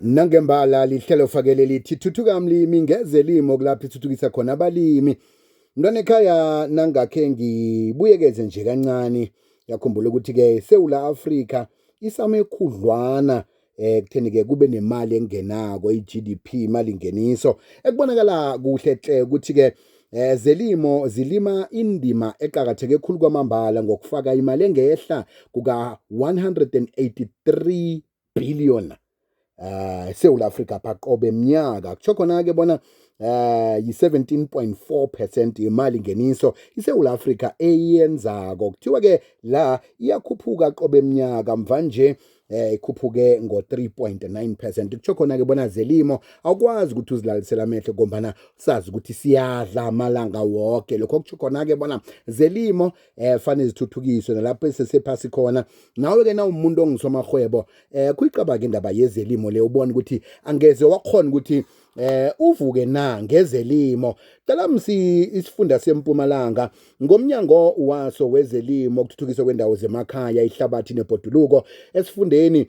Nangembala lihlelo fakele lithi thuthuka mlimi ngeze limo kulapho ithuthukisa khona abalimi. Mntwana ekhaya nangakhe ngibuyekeze nje kancane yakhumbula ukuthi-ke sewula Afrika isamekhudlwana eh kutheni ke kube nemali engenako iGDP imali ingeniso ekubonakala kuhle hle ukuthi ke eh zelimo zilima indima eqhakatheke khulu kwamambala ngokufaka imali engehla kuka 183 billion uh eSouth Africa phaqobe eminyaka kusho khona ke bona uh yi-17.4% yemali ngeniso iSouth Africa eyenzako kuthiwa ke la iyakhuphuka qobe eminyaka mva nje eh ikhuphuke ngo-3.9% kusho khona-ke bona zelimo awukwazi ukuthi uzilalisele amehlo ngombana sazi ukuthi siyadla amalanga woke lokho kusho khona-ke bona zelimo eh fane zithuthukiswe nalapho esesephasi khona nawe ke nawumuntu ongisomahwebo eh kuyicabanga indaba yezelimo le ubona ukuthi angeze wakhona ukuthi eh uvuke na ngezelimo cela msi isifunda sempumalanga ngomnyango waso wezelimo ukuthuthukiswa kwendawo zemakhaya ihlabathi nebhoduluko esifundeni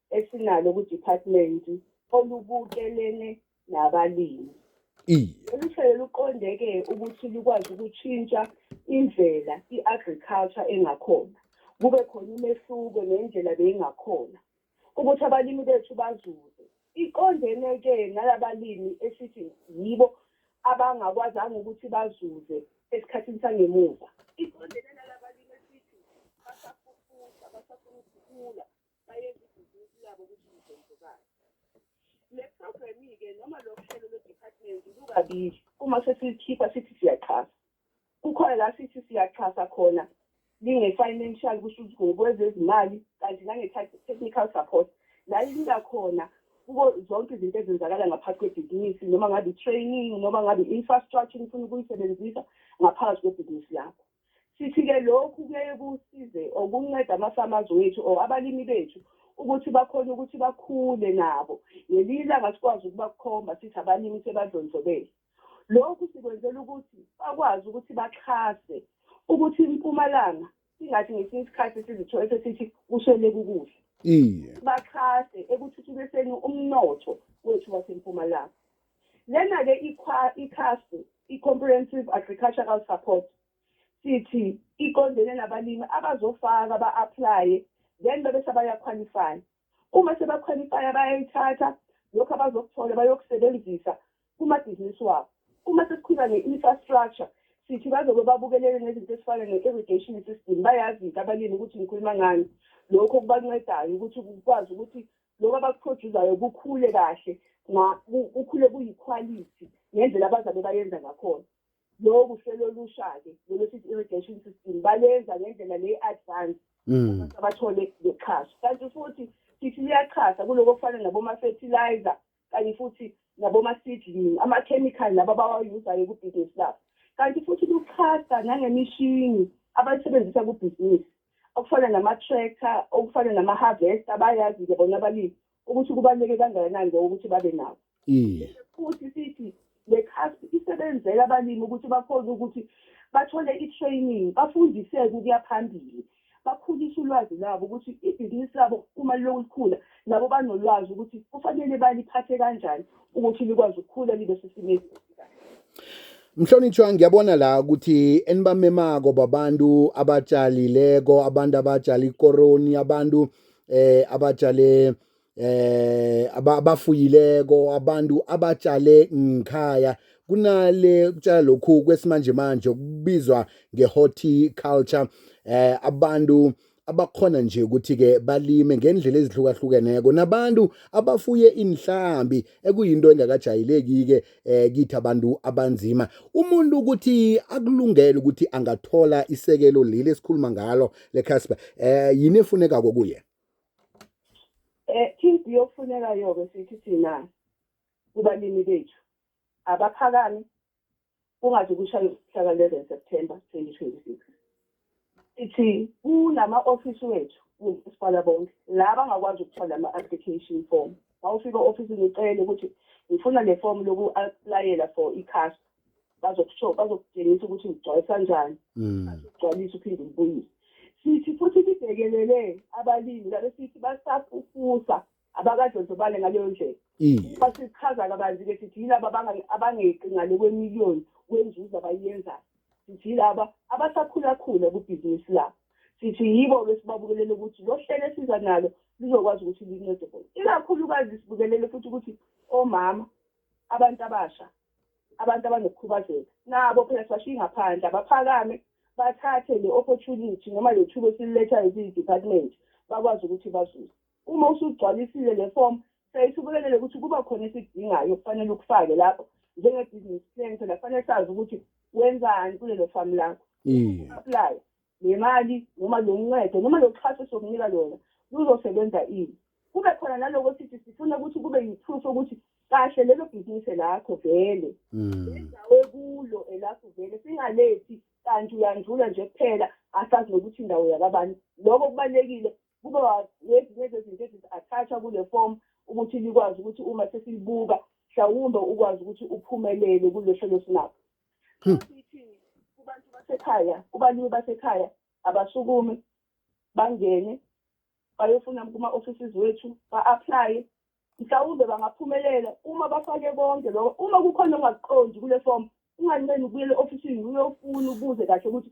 esinalo kuDepartment olubukelene nabalimi. Lolu hlelo luqondeke ukuthi lukwazi ukutshintsha indlela i-agriculture engakhona, kube khona umehluko nendlela beyingakhona, ukuthi abalimi bethu bazuze. Iqondene-ke nalabalimi esithi yibo abangakwazanga ukuthi bazuze esikhathini sangemuva. Iqondene nalabalimi esithi basafufusa, basafuna ukukhula, bayenza ibhizinisi labo ukuthi lidlondlobale le programme-ke noma lo hlelo lwe-department lukabili uma sesikhipha sithi siyaxhasa kukhona la sithi siyaxhasa khona linge-financial kusho ukuthi ngokwezezimali kanti nange-technical support la linika khona kuko zonke izinto ezenzakala ngaphathi kwebhizinisi noma ngabe i-training noma ngabe i-infrastructure nifuna ukuyisebenzisa ngaphakathi kwebhizinisi lakho Sithi-ke lokhu kuyaye kusize or kuncede ama-farmers wethu or abalimi bethu ukuthi bakhone ukuthi bakhule nabo. Ngelinye ilanga sikwazi ukubakhomba sithi abalimi sebadlondlobele. Lokhu sikwenzela ukuthi bakwazi ukuthi baxhase ukuthi impumalanga singathi ngesinye isikhathi sizithole sesithi kusweleka ukudla. Iye. Baxhase ekuthuthukiseni umnotho wethu wasempumalanga. Lena-ke ikhasi i-Comprehensive Agricultural Support sithi iqondene nabalimi abazofaka ba-aplaye then bebe sebayakhwalifaya. Uma sebakhwalifaya bayayithatha lokhu abazokuthola bayokusebenzisa kumabhizinisi wabo. Uma sesikhuluma nge-infrastructure sithi bazobe babukelele nezinto ezifana ne-irrigation system bayazi-ke abalimi ukuthi ngikhuluma ngani. Lokho kubancedayo ukuthi kukwazi ukuthi lokho abakuphrojuzayo kukhule kahle kukhule kuyikhwalithi ngendlela abazabe bayenza ngakhona loku hlelo olusha-ke lolwesithi irrigation system balenza ngendlela le advance mm. abathole ngexhaso kanti futhi sithi liyaxhasa kuloko kufana naboma-fertilizer kanye futhi naboma-seedling amakhemikhali laba abawayuzayo kubhizinisi labo kanti futhi luxhasa nangemishini abayisebenzisa kubhizinisi okufana nama-tractor okufana nama-harvester bayazi-ke bona abalimi ukuthi kubaluleke kangakanani lokho ukuthi babe nawo iye futhi sithi Le CASP isebenzela abalimi ukuthi bakhone ukuthi bathole i-training, bafundiseke ukuya phambili, bakhulise ulwazi lwabo ukuthi ibhizinisi labo uma lilokhu likhula, nabo banolwazi ukuthi kufanele baliphathe kanjani ukuthi likwazi ukukhula libe sesimeni esikahle. Mhlonitshwa ngiyabona la ukuthi enibamemako babantu abatshalileko abantu abatshala ikoroni abantu eh abatshale eh abafuyileko abantu abatshale ngikhaya kunale kutshala lokhu kwesimanje manje okubizwa ngehorticulture eh abantu abakhona nje ukuthi ke balime ngendlela ezihlukahlukeneko nabantu abafuye inhlambi ekuyinto engakajayeleki ke eh kithi abantu abanzima umuntu ukuthi akulungele ukuthi angathola isekelo leli esikhuluma ngalo le Casper eh yini efuneka kokuye Eh impi yokufuneka yoke sithi thina kubalimi bethu abaphakami kungathi kushaya umhlaka 11 September 2026 ithi kunama office wethu kumasipala bonke la bangakwazi ukuthola ama application form mawufika office ngicela ukuthi ngifuna le form loku applyela for iCASPA bazokusho bazokutshengisa ukuthi ngigcwalisa kanjani bazogcwalisa mm. uphinde ubuyise sithi futhi sibhekelele abalimi labe sithi basafufusa abakadlondlobale ngaleyo ndlela mm. basichaza kabanzi-ke sithi yilaba abangeqi ngale kwemiliyoni wenzuzo abayenzayo sithi yilaba abasakhulakhula kubhizinisi labo sithi yibo besibabukelele ukuthi lo hlelo esiza nalo lizokwazi ukuthi lincede bona ikakhulukazi sibukelele futhi ukuthi omama abantu abasha abantu abanokukhubazeka nabo phela sibashiye ngaphandle abaphakame bathathe le opportunity noma le thuba esilethayo ziyi-department bakwazi ukuthi bazuze uma usugcwalisile le form sayisubelelele ukuthi kuba khona esikudingayo kufanele ukufake lapho njenge-business plan phela kufanele sazi ukuthi wenzani kulelo famu lakho apply le mali noma lo ncedo noma lo xhaso sokunika lona luzosebenza ini kube khona naloko sithi sifuna ukuthi kube yiproof ukuthi kahle lelo bhizinisi elakho vele hmm. indawo ekulo elakho vele singalethi kanti uyandlula nje kuphela asazi nokuthi indawo yakabani lokho kubalulekile kube ngezinye zezinto ezi-attachwa kule form ukuthi likwazi ukuthi uma sesilibuka mhlawumbe ukwazi ukuthi uphumelele kulesho lesinabo Hmm. kubantu basekhaya kubalimi basekhaya abasukume bangene bayofuna kuma-offices wethu ba-aplaye mhlawumbe bangaphumelela uma bafake konke loko uma kukhona ongakuqondi kule fomu unganqeni ukubuyela e-ofisini uyofuna ubuze kahle ukuthi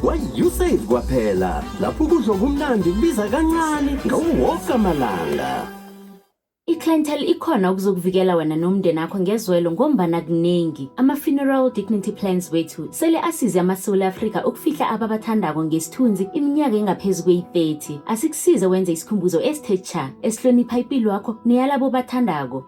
Kwa-usave kwaphela lapho ukudla okumnandi kubiza kancane ngawo wonke amalanga. I-clientele ikhona ukuzokuvikela wena nomndeni akho ngezwelo ngombana kuningi. Ama-funeral dignity plans wethu sele asize amaSewula Afrika ukufihla ababathandako ngesithunzi iminyaka engaphezu kweyi-30. Asikusize wenze isikhumbuzo esithe cha, esihlonipha ipilo yakho neyalabo obathandako.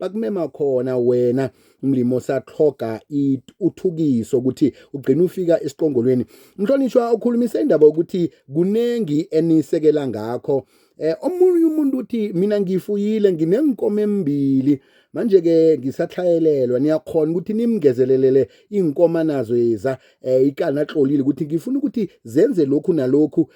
bakumema khona wena umlimi osaqhoga uthukiso ukuthi ugcina ufika esiqongolweni mhlonishwa ukhulumise indaba ukuthi kunengi enisekela ngakho eh omunye umuntu uthi mina ngifuyile nginenkomo embili manje ke ngisathayelelwa niyakhona ukuthi nimngezelelele inkomo nazo yeza eh ikana xolile ukuthi ngifuna ukuthi zenze lokhu nalokhu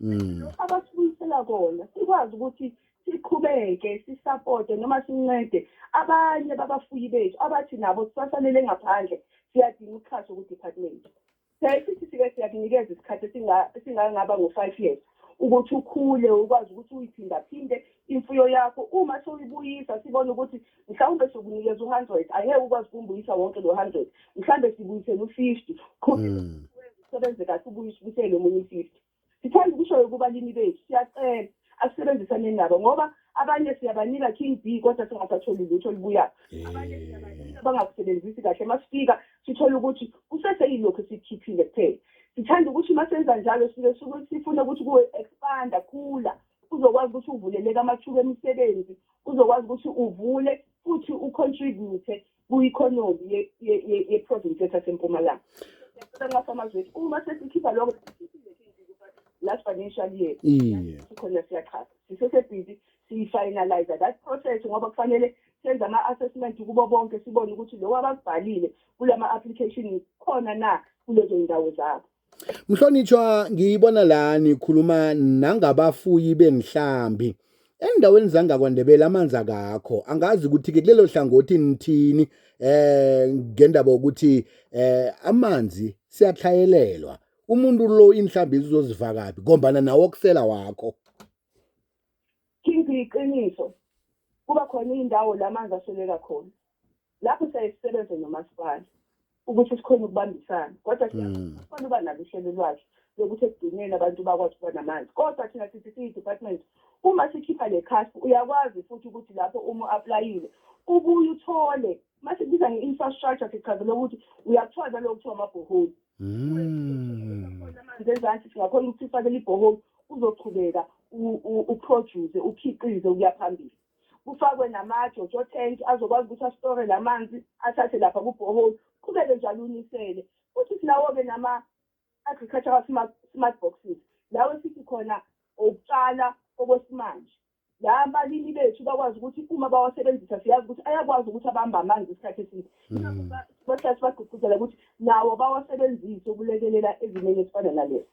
mm. lokho abasibuyisela kona sikwazi ukuthi siqhubeke sisapote noma sincede abanye babafuyi bethu abathi nabo sibasalele ngaphandle siyadinga uxhaso ku-department siyaye sithi sike siyakunikeza isikhathi esingangaba ngo-five years ukuthi ukhule ukwazi ukuthi uyiphindaphinde imfuyo yakho uma sewuyibuyisa sibona ukuthi mhlawumbe sokunikeza u-hundred angeke ukwazi ukumbuyisa wonke lo hundred mhlawumbe sibuyisele u-fifty qhubeka Mm. usebenze kahle ubuye usibuyisele omunye u-fifty sithanda ukushoyo kubalimi bethu siyacela asisebenzisaneni nabo ngoba abanye siyabanika king b kodwa singasatholi lutho olubuyayo abanye Eh. siyabanika bangakusebenzisi kahle uma sifika sithole ukuthi kuseseyilokhu esikhiphile kuphela sithanda ukuthi uma senza njalo sike suke sifune ukuthi kuwe-expanda khula uzokwazi ukuthi uvuleleke amathuba emisebenzi uzokwazi ukuthi uvule futhi ucontribute ku-economy ye-province yethu yasempumalanga nxasamazwethu uma sesikhipha loko last financial year sikhona siyachaza sisesebhizi siyifinalize that process ngoba kufanele senze ama-assessment kubo bonke sibone ukuthi lowo abakubhalile kulama-application khona na kulezo ndawo zabo Mhlonitshwa ngiyibona la nikhuluma nangabafuyi bengihlambi endaweni zangakwandebela amanzi akakho angazi ukuthi ke kulelo hlangothi nithini eh ngendaba ukuthi eh amanzi siyathayelelwa umuntu lo inhlambi izozivakapi ngombana nawo okusela wakho King iqiniso kuba khona indawo lamanzi asoleka khona lapho siyaye sisebenze nomasipala ukuthi sikhona ukubambisana kodwa siyafuna mm. uba nalo uhlelo lwakhe lokuthi ekugcineni abantu bakwazi ukuba namanzi kodwa thina sithi siyi-department uma sikhipha le khaspi uyakwazi futhi ukuthi lapho uma u-aplayile ubuye uthole uma sibiza nge-infrastructure sichazele ukuthi uyakuthola naloko kuthiwa amabhoholi mm. amanzi ezansi singakhona ukuthi sifakele ibhoholi uzoqhubeka uproduce ukhiqize ukuya phambili kufakwe nama-jojo tank azokwazi ukuthi asitore la manzi athathe lapha kubhoholi qhubeke njalo unisele futhi sinawo-ke nama-agricultural smart, smart boxes lawo esithi khona okutshala okwesimanje la abalimi bethu bakwazi ukuthi uma bawasebenzisa siyazi ukuthi ayakwazi ukuthi abambe amanzi isikhathi eside hmm. bahlale sibagqugquzela ukuthi nawo bawasebenzise ukulekelela ezimeni ezifana nalezi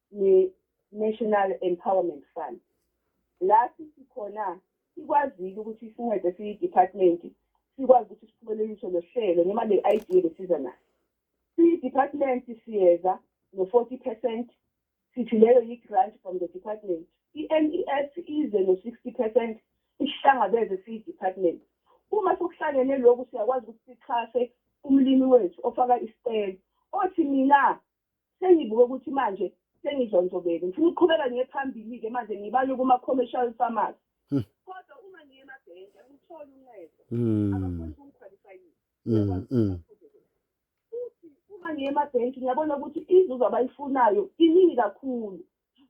ne-national empowerment fund la sithi khona sikwazile ukuthi sincede siyi-department sikwazi ukuthi siphumelelise lo hlelo noma le idea besiza nayo siyi-department siyeza no-forty percent sithi leyo yi-grant from the department i-n e s ize no-sixty percent isihlangabeze siyi-department uma sokuhlangene lokhu siyakwazi ukuthi sixhase umlimi wethu ofaka isicelo othi mina Sengibuke ukuthi manje sengidlondlobele. Ngifuna ukuqhubeka ngiye phambili-ke manje ngibalwe kuma-commercial farmers. Hmm. Kodwa uma ngiye emabhenki angitholi uncedo. Hmm. Abafuni ukungikhwalifayisa. Hmm, Futhi uma ngiye emabhenki ngiyabona ukuthi inzuzo abayifunayo iningi kakhulu.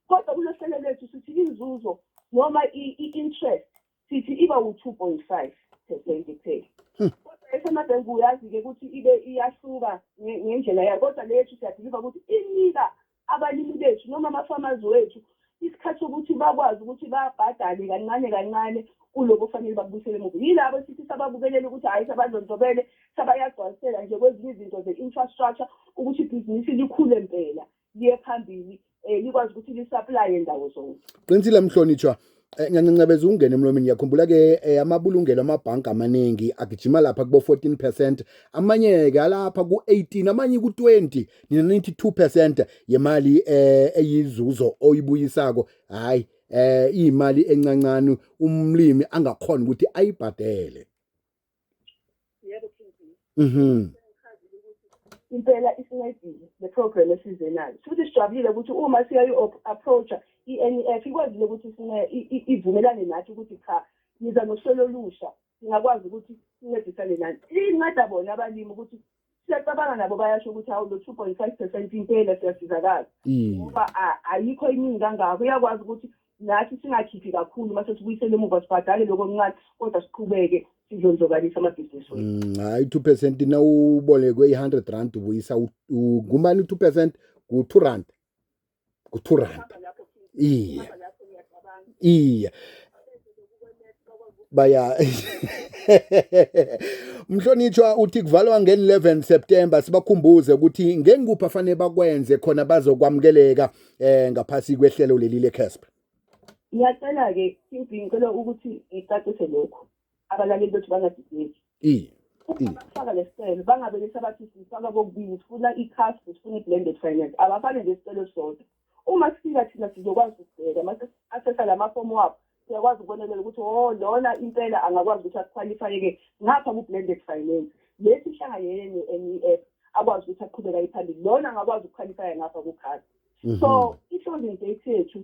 Kodwa kulohlelo lwethu sithi inzuzo noma i-interest sithi iba wu-2.5 percent kuphela hmm. kodwa esemadeni kuyazi-ke ukuthi ibe iyahluka ngendlela yayo kodwa leyethu siyabhiliva ukuthi inika abalimi bethu noma ama-farmers wethu isikhathi sokuthi bakwazi ukuthi babhadale kancane kancane kuloko kufanele bakubuyisele emuva yilabo sithi sababukelele ukuthi hhayi sabadlondlobele sabayagcwalisela nje kwezinye izinto ze-infrastructure ukuthi ibhizinisi likhule mpela liye phambili um likwazi ukuthi lisaplaye ndawo zonke qinisile mhlonitshwa Eh, ngiyancancabeza ukungena emlomeni ngiyakhumbula-ke eh, amabulungelo amabhanki amaningi agijima lapha kubo-14 percent amanye-ke alapha ku-18 amanye ku-20 nina nithi 2 percent yemali eh, eyizuzo oyibuyisako hhayi um iyimali encancane umlimi angakhona ukuthi ayibhadele yebo king mhm impela isincedile le program esize nayo futhi sijabulile ukuthi uma siyayi approacha i-NEF ikwazile ukuthi ivumelane nathi ukuthi cha niza nohlelo olusha singakwazi ukuthi sincedisane nani inceda bona abalimi ukuthi siyacabanga nabo bayasho ukuthi hawu lo two point five percent impela siyasizakala mm. ngoba ayikho iningi kangako uyakwazi ukuthi nathi singakhiphi kakhulu uma sesibuyisele emuva sibhadale lokho okuncane kodwa siqhubeke sizonzokalisa amabhizinisi wethu mm, hayi two percent na ubolekwe i-hundred rand ubuyisa kumane u-two percent ku-two rand ku-two rand iye iye baya Mhlonitshwa uthi kuvalwa nge-11 September sibakhumbuze ukuthi ngengikuphi afanele bakwenze khona bazokwamukeleka eh ngaphasi kwehlelo leli le-CASP. Ngiyacela-ke QB ngicela ukuthi ngicacise lokhu. abalaleli bethu bangadideki ukufaka lesicelo bangabe besabathi sifaka kokubili sifuna i-cast sifuna i-blended finance abafane nje isicelo sodwa uma sifika thina sizokwazi ukubheka mase asesa la mafomu wabo siyakwazi ukubonelela ukuthi o oh, lona impela angakwazi ukuthi akukhwalifayeke ngapha ku-blended finance lesi hlanga yenye enye i-app akwazi ukuthi aqhubeka iphambili lona angakwazi ukukhwalifaya ngapha kukhasi mhm. so i-closing date yethu